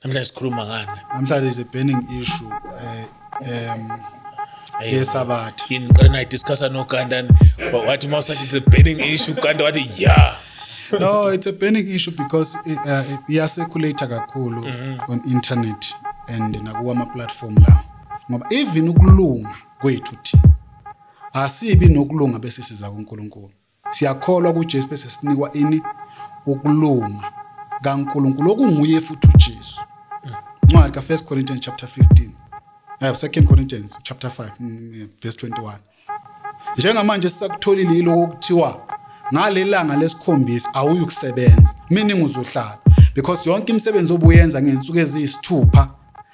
namhlanje sikhuluma ngani namhlanje is a burning issue eh, um yesabatha yini ngiqale nayi discussa nogandani wathi uma usathi it's a burning issue ganda wathi ya no it's a burning issue because eh, eh, iyaseculator kakhulu mm-hmm. on internet and nakuwa ama-platform lawo ngoba even ukulunga kwethu thina asibi nokulunga bese siza kuNkulunkulu siyakholwa kuJesu bese sinikwa ini ukulunga kaNkulunkulu okunguye futhi uJesu incwadi ka 1 Corinthians chapter 15 I have 2 Corinthians chapter 5 mm, verse 21 Njengamanje esisakutholile yiloko okuthiwa ngalelanga lesikhombisa awuyukusebenza meaning uzohlala because yonke imisebenzi obuyenza ngensuku eziyisithupha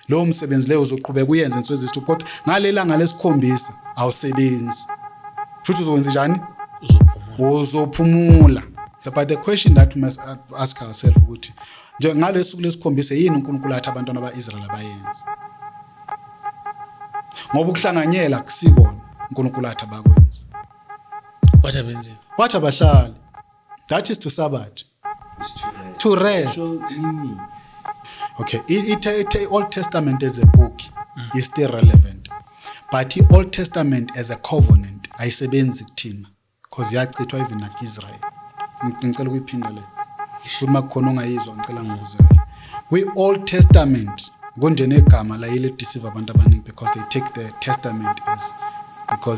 lowo msebenzi leyo uzoqhubeka uyenze ngensuku eziyisithupha kodwa ngalelanga lesikhombisa awusebenzi futhi uzokwenza njani uzophumula but the question that we must ask ourselves ukuthi nje ngalesuku lesikhombisa yini uNkulunkulu athi abantwana baIsrael abayenza Ngoba ukuhlanganyela akusikona uNkulunkulu athi abakwenze. Wathi abenzeni? Wathi abahlali. That is to Sabbath. To rest. Okay, i-Old Testament as a book mm. is still relevant. But i-Old Testament as a covenant ayisebenzi kuthina. Cause yachithwa even naku Israel. Ngicela ukuyiphinda le. Futhi makukhona ongayizwa ngicela ngibuze kahle. Kwi Old Testament kunjena igama layile deceive abantu abaningi because they take the testament as because